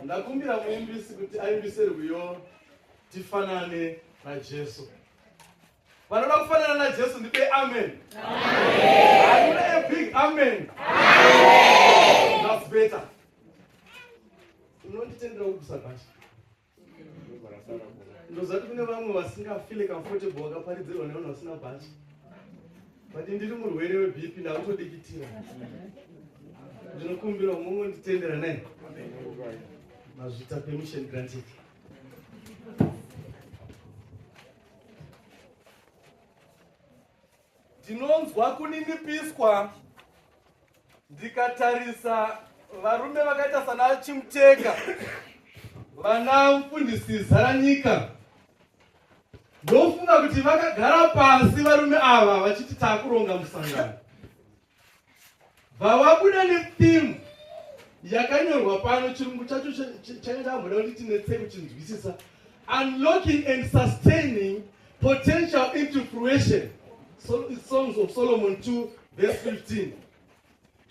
ndakumbira muimbisi kuti aimbise rwiyo tifanane najesu vanoda kufanana najesu ndipe amen aune a big amen that's better unonditendera kugusa basa ndozati kune vamwe vasingafile comfortable vakaparidzirwa nevanhu vasina bhachi but ndiri murwere webp ndakutodikitira ndinokumbira umwe nditendera naye mazvita permission granted Ndinonzwa kuninipiswa ndikatarisa varume vakaita sana Chimuteka, vana mfundisi Zaranyika. Ndofunga kuti vakagara pasi varume ava vachiti takuronga musangano. Vawabuda nefilm yakanyorwa pano chirungu chacho changa chamboda kuti tinetse kuchinzwisisa unlocking and sustaining potential into fruition so, songs of solomon 2 verse 15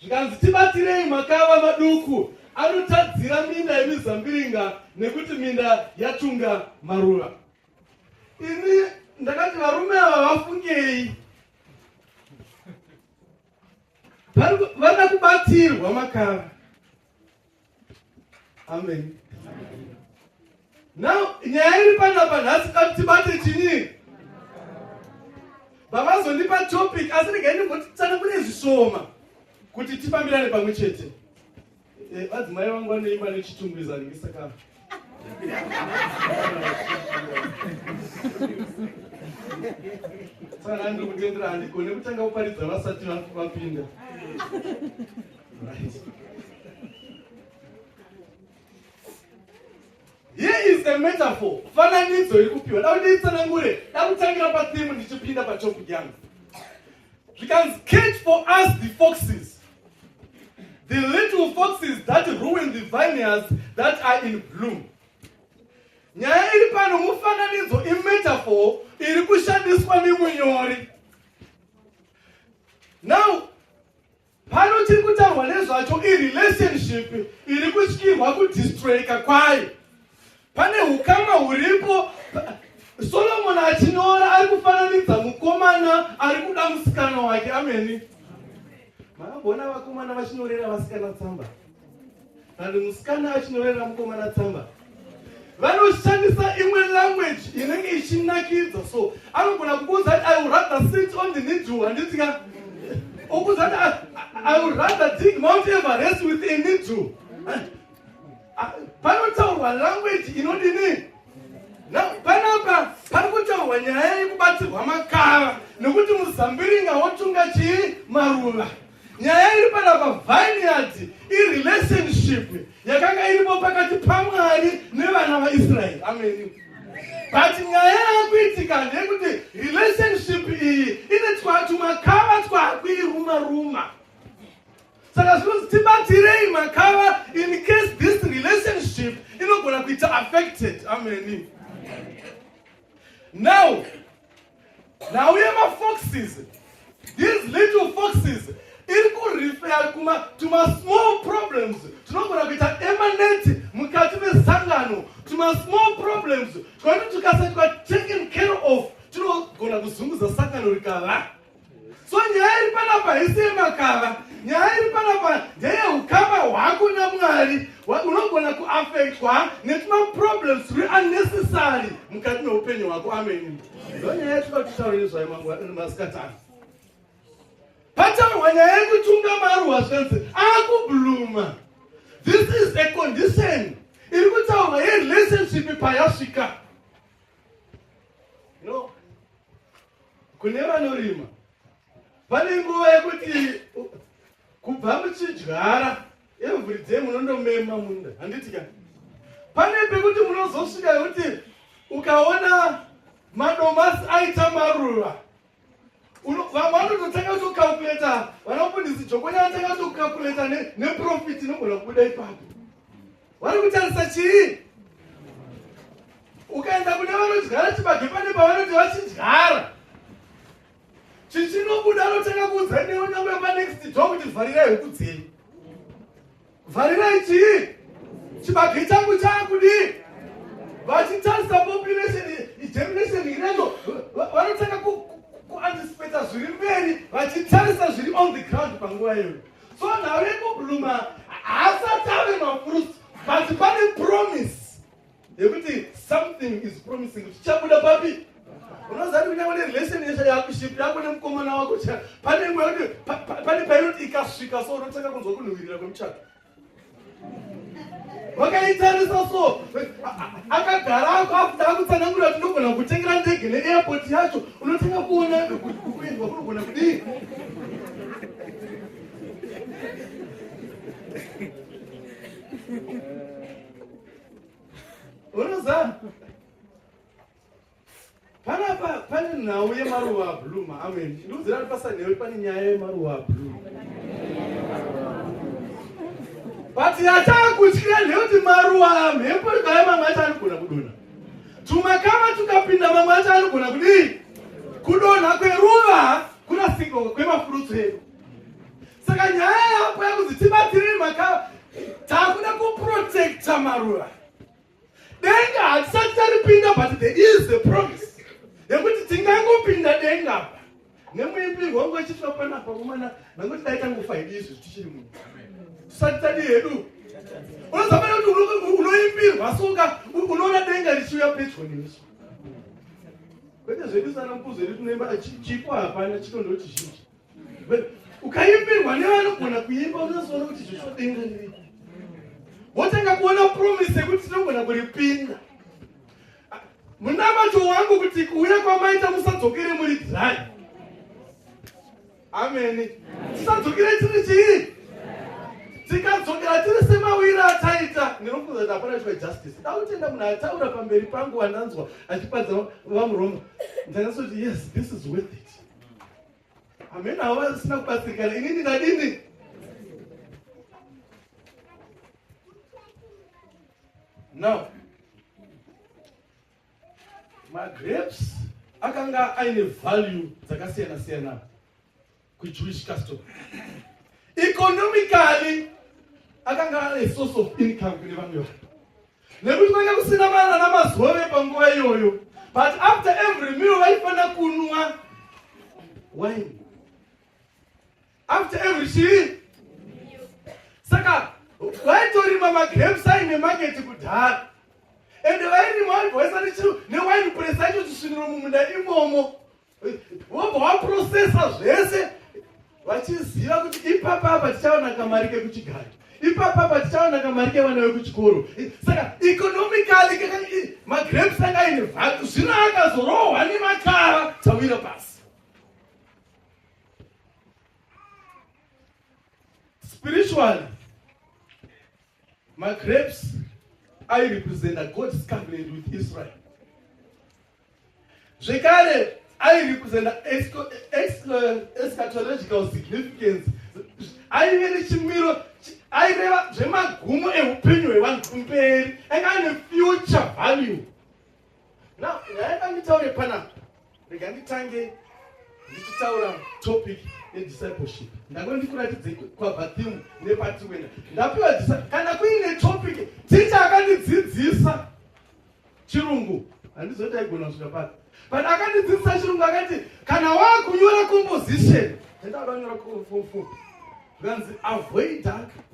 zvikanzi tibatirei makava maduku anotadzira minda yemizambiringa nekuti minda yatunga maruva ini ndakati varume ava vafungei vana kubatsirwa makara amen now nyaya iri panapa nhasi kati tibate chini vavazondipa topic asi regai ndimbotitsana kune zvishoma kuti tifambirane pamwe chete Eh, vadzimai vangu vanoimba nechitungwiza nhingi saka saka nani ndiri kutendera handigone kutanga kuparidza vasati vapinda here is a metaphor fananidzo iri kupiwa da kuti itsanangure da kutangira pathimu ndichipinda patopic yangu zvikanzi catch for us the foxes the little foxes that ruin the vineyards that are in bloom nyaya iri pano mufananidzo imetafor iri kushandiswa nemunyori now Pano chiri kutaurwa nezvacho irelationship iri kutyirwa kudistroyika kwayo. Pane ukama huripo. Solomoni achinyora ari kufananidza mukomana ari kuda musikana wake. Ameni. Makambona vakomana vachinyorera vasikana tsamba? and musikana achinyorera mukomana tsamba vanoshandisa imwe language inenge ichinakidza so anogona kukuudza kuti i will rather sit on the needle handitya okuudza kuti ah, i will rather dig mount everest with a needle ah, panotaurwa language inodini panapa pari kutaurwa nyaya yekubatsirwa makava nekuti muzambiringa wotunga chii maruva Nyaya iri panapa vineyard irelationship yakanga iripo pakati pamwari nevana vaisraeri ameni but nyaya yakuitika ndeyekuti relationship iyi ine twatumakava twakuiruma ruma saka zvinonzi tibatirei makava in case this relationship inogona kuita affected ameni now Ndauye mafoxes these little foxes iri kurifeya kuma tuma small problems tinogona kuita emaneti mukati mesangano tuma small problems twaiti tukasati taken care of tinogona kuzunguza sangano rikava So nyaya iri panapa haisi yemakava, nyaya iri panapa ndeyeukama hwako naMwari. Unogona kuafektwa netumaproblems turi unnecessary mukati meupenyu hwako. Ameni. Ndo nyaya yatinoda kutaura nezvayo masikati ano. Pataurwa nyaya yekutunga maruwa zvanzi akubluma. This is a condition iri kutaurwa yerelationship payasvika. Kune vanorima pane nguva yekuti kubva muchidyara every day munondomema munda handiti ka pane pekuti munozosvika yekuti ukaona madomasi aita maruva vamwe vanototanga kutokalkuleta vanopundisi jokonyatanga kutokalkuleta neprofit inogona kubuda ipapo Vari kutarisa chii? Ukaenda kune vanodyara chibage pane pavanoti vachidyara chichinobuda anotanga kuudza newe nyangwe panext do kuti vharirai huku dzenyu vharirai chii chibage changu chaakudii vachitarisa population germination ireyo vanotanga kuanticipata zviri mberi vachitarisa zviri on the ground panguva iyoyo so nhau yekubluma haasati ave mafruits but pane promise yekuti something is promising kuti chabuda papi unozati kunyangwe nerelation yesha yakuship yako nemukomana wako pane mwe kuti pane painoti ikasvika so unotanga kunzwa kunhuwirira kwemuchato vakaitarisa so akagara ako afuta akutsanangura kuti ndogona kutengera ndege neairport yacho unotanga kuona kuendwa kunogona kudii unozaa Panapa pane nhau yemaruva ablue maamwe ndiudzira kuti pasanhewe pane nyaya yemaruva ablue but yatakutyira ndeyekuti maruva mhepo ikaya mamwe acho anogona kudonha tumakama tukapinda mamwe acho anogona kudii kudonha kweruva kunasiko kwemafurutsu edu saka nyaya yapo yakuzi tibatiriri makava takuda kuprotecta maruva denga hatisati taripinda but there is the promise yekuti tingangopinda denga apa nemuimbirwo wangu achiitwa panapa kumana nangoti dai tangofa hedu izvi tichiri munhu tisati tadi hedu unozofanira kuti unoimbirwa soka unoona denga richiuya pedyo nemiso kwete zvedu sana mkuzo iri tunoimba chipo hapana chito ndochizhinji ukaimbirwa nevanogona kuimba unozoona kuti zvechodenga niriko wotanga kuona promise yekuti tinogona kuripinda munamato wangu kuti kuuya kwamaita musadzokere muri dry ameni tisadzokere tiri chii tikadzokera tiri semawira ataita ndinofunza kuti hapana chwa justice dautenda munhu ataura pamberi pangu vandanzwa achipadza vamuroma ndakasoti yes this is worth it Amena havo vasina kubatsirikana inini ndadini? Now, magrapes akanga aine value dzakasiyana siyana kujewish custom economically akanga ane source of income kune vamwe vanhu nekuti kwanga kusina vana namazove panguva iyoyo but after every meal vaifanira kunwa wine after every chii saka vaitorima magrapes aine maketi kudhara ende vairima vaibva vaisati chiro newine press yacho chisviniro mumunda imomo vobva waprosesa zvese vachiziva kuti ipapa apa tichaona kamari kekuchigaro ipapa apa tichaona kamari kevana vekuchikoro saka economically magrapes anga aine vhatu zvino akazorohwa nemakara dzawira pasi spiritually Magrapes airepresenta God's covenant with Israel. Zvekare airepresenta eschatological significance. Aive nechimiro aireva zvemagumo ehupenyu hwevanhu kumberi. Anga ane future value. Now, ndaida nditaure panapa. Rega nditange ndichitaura topic yediscipleship. Ndangoti ndikuratidze kwabva theme nepati wena. Ndapiwa disciple kana kuine topic teacher akandidzidzisa chirungu. Handizoti aigona kusvika pati. But akandidzidzisa chirungu akati kana wakunyora composition. Ndaida kunyora composition. Zvikanzi avoid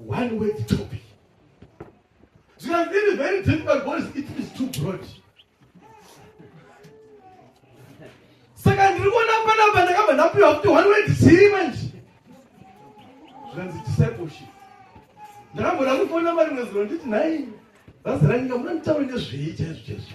one word topic. Zvikanzi it is very difficult because it is too broad. Saka ndiri kuona panapa ndakabva ndapiwa kuti one word chii manje. Zvikanzi discipleship. Ndakamboda kufona mari mwezuro nditi nhai bhazi ranyika munonditaura nezvei chaizvo chaizvo.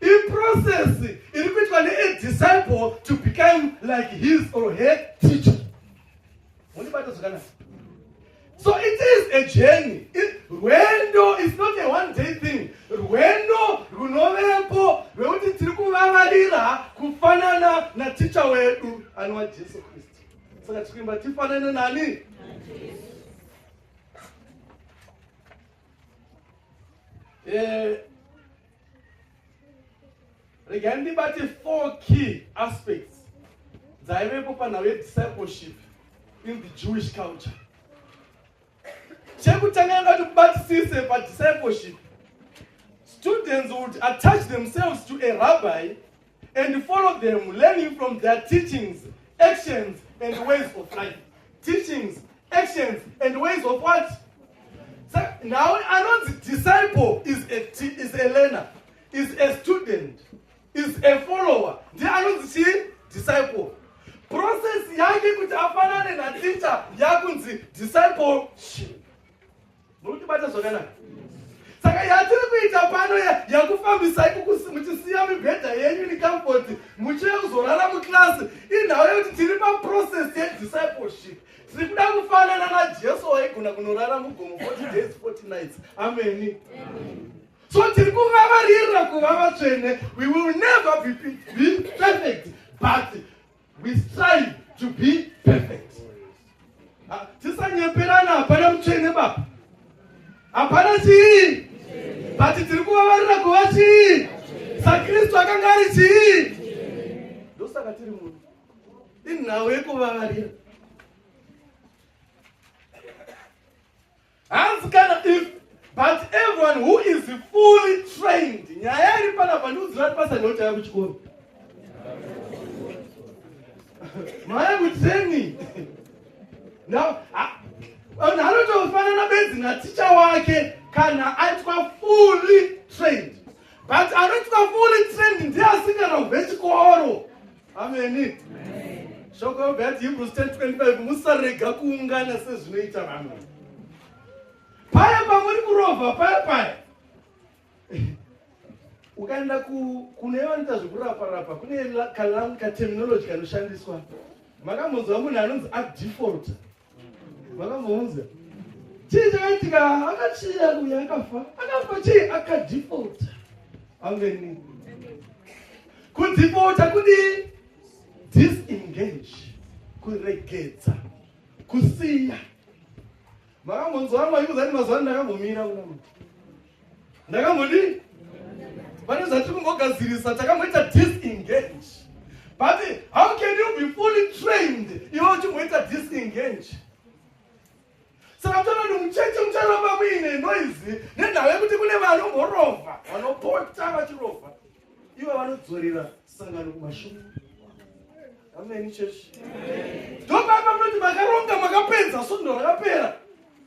iprocess iri kuitwa neadisciple to become like his or her teacher mundibata zvakanaka so it is a journey rwendo is not a one day thing rwendo runovepo rwekuti tiri kuvavarira kufanana naticha wedu anova jesu kristu saka tiri kuimba tifanane nani eh, rega ndibate four key aspects dzaivepo panhau yediscipleship in the jewish culture chekutanga ndati kubatisise padiscipleship students would attach themselves to a rabbi and follow them learning from their teachings actions and ways of life teachings actions and ways of what so now anonzi disciple is a, is a learner is a student is a follower ndiye anonzi chii disciple process yake kuti afanane naticha yakunzi discipleship murikutibata zvakanaka saka yatiri kuita pano yakufambisai muchisiya mibhedha yenyu necomfoti muchive kuzorara muclass inhau yekuti tiri paprocess yediscipleship tiri kuda kufanana najesu waigona kunorara mugomo 40 days 40 nights ameni so tiri kuvavarira kuva vatsvene we will never be perfect but We strive to be perfect. Ah, tisanyeperana hapana mutsvene baba. Hapana chii? But tiri kuvavarira kuva chii? SaKristu akanga ari chii? Ndosaka tiri munhu. Inhau yekuvavarira. Hanzi kana if but everyone who is fully trained nyaya iri panapa ndiudzira kuti basa ndinotanga kuchikoro maya kutraining now vanhu anotofanana benzi naticha wake kana aitwa fully trained but anoitwa fully trained ndiye asingana kubve chikoro ameni shoko yobva yati hebrews 1025 musarega kuungana sezvinoita vamwe paya pamuri kurova paya paya ukaenda kune vanoita zvekurapa rapa kune katerminology kanoshandiswa makambonzwa munhu anonzi adefault Vakamuunza. Chii chakaitika? Akachiya kuya akafa. Akafa chii? Akadhipota. Ameni. Kudhipota kudii? Disengage. Kuregedza. Kusiya. Makamhonzo wangu achiuza kuti mazuva ano ndakambomira kuna mwana. ndakambodii pane zvatiri kumbogadzirisa takamboita disengage but how can you be fully trained iwe uchimboita disengage saka tona kuti mucheche mucharamba muine noizi nenhau yekuti kune vanomborova vanopota vachirova ivo vanodzorera sangano kumashure ameni chechi ndopapa munoti makaronga makapedza sundo rakapera